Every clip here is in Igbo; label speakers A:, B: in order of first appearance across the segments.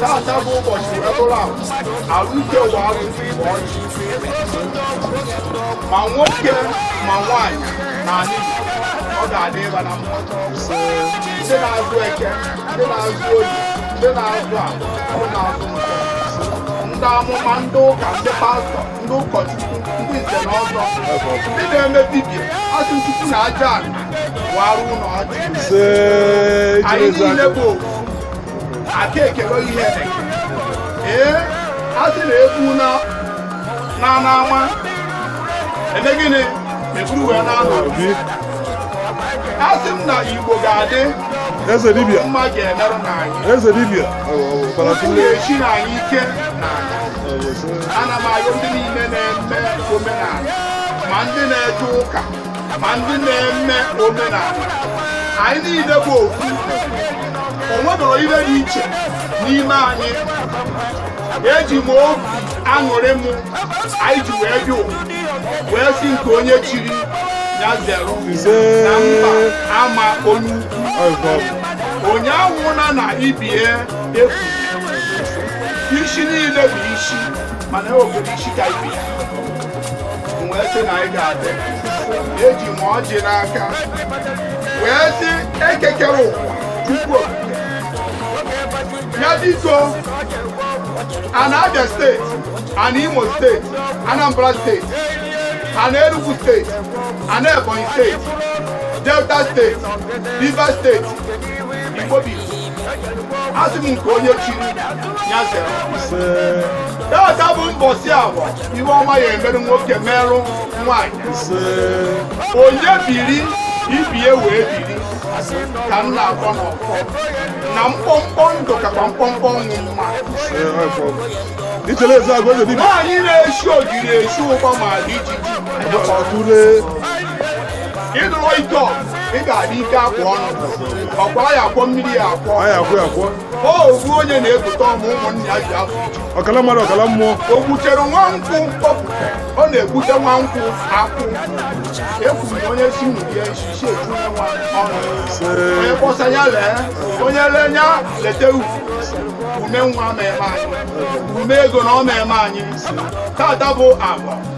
A: Tata bụ ụbọchị wee bụrụ ahụ ahụike ụwa arụsị bụ ọchị ma nwoke ma nwaanyị na anyị ọ ga-adị ịba na mma ndị na-azụ eke ndị na-azụ oye ndị na-azụ afọ ndị na-azụ nkwọ ndị amụma ndị ụka ndị pastọ ndị ụkọchukwu ndị nze na ọzọ ndị na-eme dibia a sị chukwu na aja anị waarụ ụnụ ọjị anyị niile bụ aka ekele ihe ee a sị na egwu naa n'ama e mee gịnị e buru wee naa ụnọ asị m na igbo ga-adị eze dibia
B: mma ga-emerụ
A: na
B: anyị eze dibia ga-echi
A: na anyị ike na anyị ana m ayọ ndị niile na-eme omenanị ma ndị na-eje ụka ma ndị na-eme omenanị anyị niile bụ ofu o nwerọ ihe dị iche n'ime anyị eji m obi aṅụrị m anyị ji wee bịa ụwa wee sị nke onye chiri ya zere na mba ama onye ukwu onye anwụna na ibe ya efu isi niile bụ isi mana e nwere isi ka ibe ya wee sị na anyị ga-adị eji m ọjị n'aka wee sị eke kere ụwa chukwu ya biko ana abia steeti ana imo steeti anambra steeti ana enugu steeti ana ebonyi steeti delta steeti rivers steeti igbo asị m nke onye chiri ya zere data bụ mbọsi agwa iwe ọma ya emere nwoke merụ nwanyị onye biri ibie wee biri ka m na-akpọ n'ọkpọ na mkpọmkpọ ndụ kakwa mkpọmkpọ ọnwụ mma ìtẹ̀lé
B: ẹ̀sẹ̀ àgọ́ ìdèdí. báyìí lè ṣó
A: ìdílé ṣó pàmò àdíjì. ọ̀túnlé. ịdụrụ ike ọgụ ị ga-adị ike akwa ọnụ ọkwa ya akwọ mmiri ya akwọ anyị akwụ ya akwụ o ogbu onye na-ebute ọmụ ụmụnne ya ji afọ iju ọkala mmadụ ọkala mmụọ
B: o gbutere nwa
A: nkwụ mkpọpụta ọ na-egbute nwa nkwụ akwụ ekwuru na onye si nwunye ya isi si eju ya nwa ọnụ onye kpọsa ya lee onye lee ya leta ugwu ume nwa ma eme anyị ume ego na ọ ma eme anyị tata bụ afọ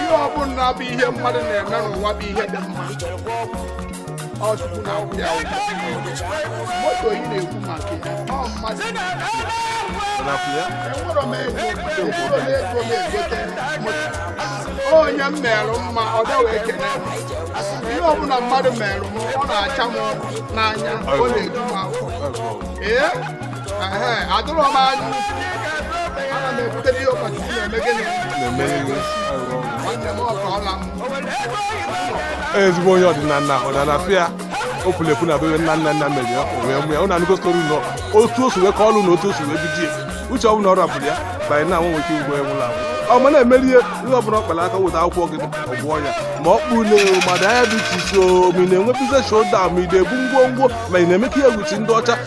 B: ihe ọbụla bụ ihe mmadụ na-eme n'ụwa bụ ihe dị mma ọ chukwu na ụdị ahụ moto ị na-ekwu maka ya ọ mmadụ enwere m ego enwere m ego m egote moto onye m merụ mma ọ bịa wee kene m ihe ọbụla mmadụ merụ m ọ na-acha m n'anya ọ na-eju m afọ ee atụrụ m anya ana m ekwutere ihe ụkọchukwu na-eme gịnị nwanne m ọka ọla m ezigbo onye ọdịnala ahụ na na-afụ ya o puru epu na bebe nna nna nna mere ya o wee mụ ya ụnụ anụgo story na otu o si wee ka ọlụ na otu o si wee bidie uche ọ bụla ọ rapụrụ ya banye na nwe nwoke ugbo enwụla ahụ ọ ma na-emeri ihe ihe ọ bụla ọ kpara aka weta akwụkwọ gị ọ gwọọ ya ma ọ kpụ na mmadụ anya dị iche iche o ma ị na-enwe business ọ daa ma ị na-ebu ngwongwo ma ị na-emekọ ihe with ndị ọcha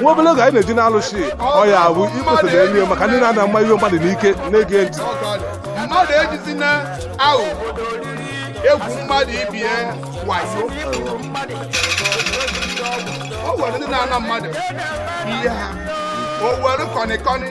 B: nwa obere oge anyị na-eje na alụsị ọ ya bụ ikpesa na elu maka ndị na-ana mma ihe mmadụ n'ike na-ege ntị mmadụ
A: ejizi na-egwu mmadụ ibe ya wayo o nwere ndị na-ana mmadụ ihe ha o were kọnịkọnị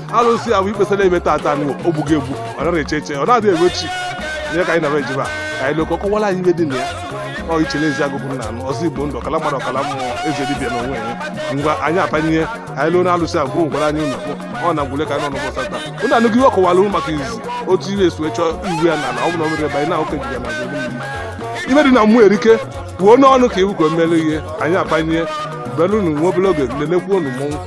B: alụsị a bụ ikpesa na-eme tata anyị o gbughị egbu ọ naghị eche eche ọ na-adị egwe chi ihe ka anyị na-eme eje ebe a ka anyị luo ka ọ kọwara anyị ihe dị na ya ọ ichele Ezeagu bụ nna anyị ọzọ igbo ndụ ọkala mmadụ ọkala mmụọ eze dibịa na onwe ya ngwa anyị akpanye ihe anyị luo na alụsị a bụrụ ngwara anyị ụlọ ọ na ngwule ka anyị nọ n'ụbọchị taa ụnụ anụghị ihe ọ kọwara unu maka izi otu ihe esi wee chọọ iwu ya na ala ọ bụla o mere ebe anyị na-ahụka ejije na azụ mmiri ihe dị na mmụọ erika kwuo n'ọnụ ka iwu ka o mere ihe anyị akpanye belụnụ nwa obere oge lenekwuo unu mmọnwụ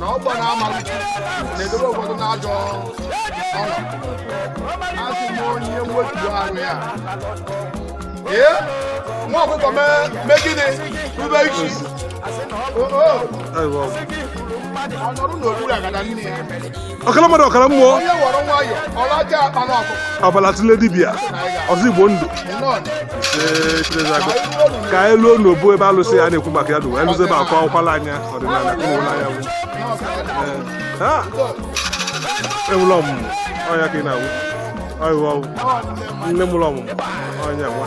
A: na ọgbọ na-ama na-edobe ụfọdụ n'ajọ ọnọdụ asị m onye wetuo ahụ ya ee nwa ọkụkọ mee gịnị rube isi ọ nọrụ n'okpuru agada nne ya ọkala mmadụ
B: ọkala mmụọ onye were
A: nwayọ ọ lacha akpana ọkụkọ ọbala tụle
B: dibịa ọzọ igbo ndụ nọn Ee, Chinezago. ka anyị luo n'obu ebe alụsị a na-ekwu maka ya n'ụwa anyị luzie ebe a ka ọ kọwala anyị ọdịnala ụmụnna ya bụ Ee. Ah! enwere ọmụmụ ọnya ka ị na-awụ ọyịwa ọwụ nne mụrụ ọmụmụ ọnya nwa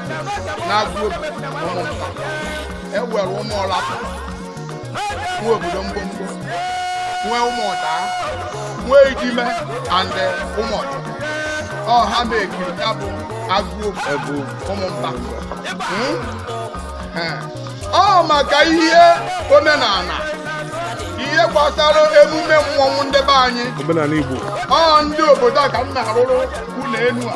A: n'Aguobu Umumba e nwere ụmụ ọlata nwee obodo mgbomgbo nwee ụmụ ọda nwee idime and eh, ụmụ ọda ọ ha make-iri ya bụ Aguobu Umumba Hmm? Eh. ọ maka ihe omenala ihe gbasara emume mmọnwụ ndị be anyị omenala igbo
B: ọ ndị obodo
A: a ka m na-arụrụ ụlọ elu a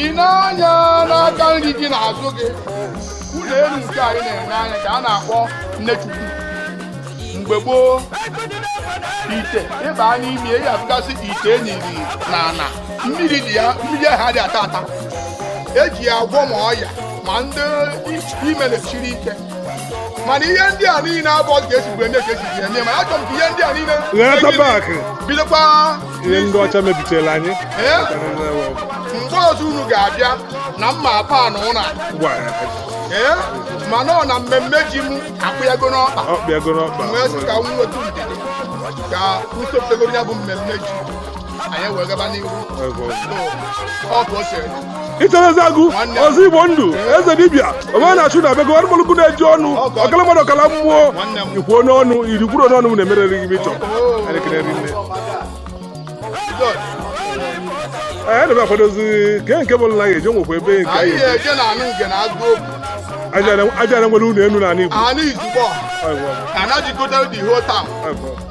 B: i nee
A: anya n'aka nri gị n'azụ gị ụlọ elu nke anyị na-ene anya ka a na-akpọ nnechukwu mgbe gboo ite ị ba n'ime ya afụgasị ite e niri na ana mmiri dị ya mmiri ahụ adị ata ata eji ya agwọ ma ọya ma ndị ime na-esiri ike mana ihe ndị a niile abụrọ ka esibu eme ka esizi eme mana achọrọ m ka ihe ndị a niile bidokwa
B: ihe ndị ọcha mebitere
A: anyị mgbe ọzọ unu ga-abịa na mma apa na ụna ee ma nọ na mmemme ji m akpụyago n'ọkpa wee sị ka m nweta ndidi ka usoro ya bụ mmemme ji anyị wee gaba n'ihu otu o si
B: ichie eziagụ ọzọ igbo ndụ eze dibịa omenachụ na abego arụmọlụkụ na-eji ọnụ ọkala mmadụ ọkala mmụọ ikwu onye ọnụ iri kwuru onye ọnụ na-emerere gị ịchọ anyị n'ebe akwadozi nke nke bụ nna ya e ji nwekwa ebe nke anyị aja na nwere ụlọ elu n'ala igbo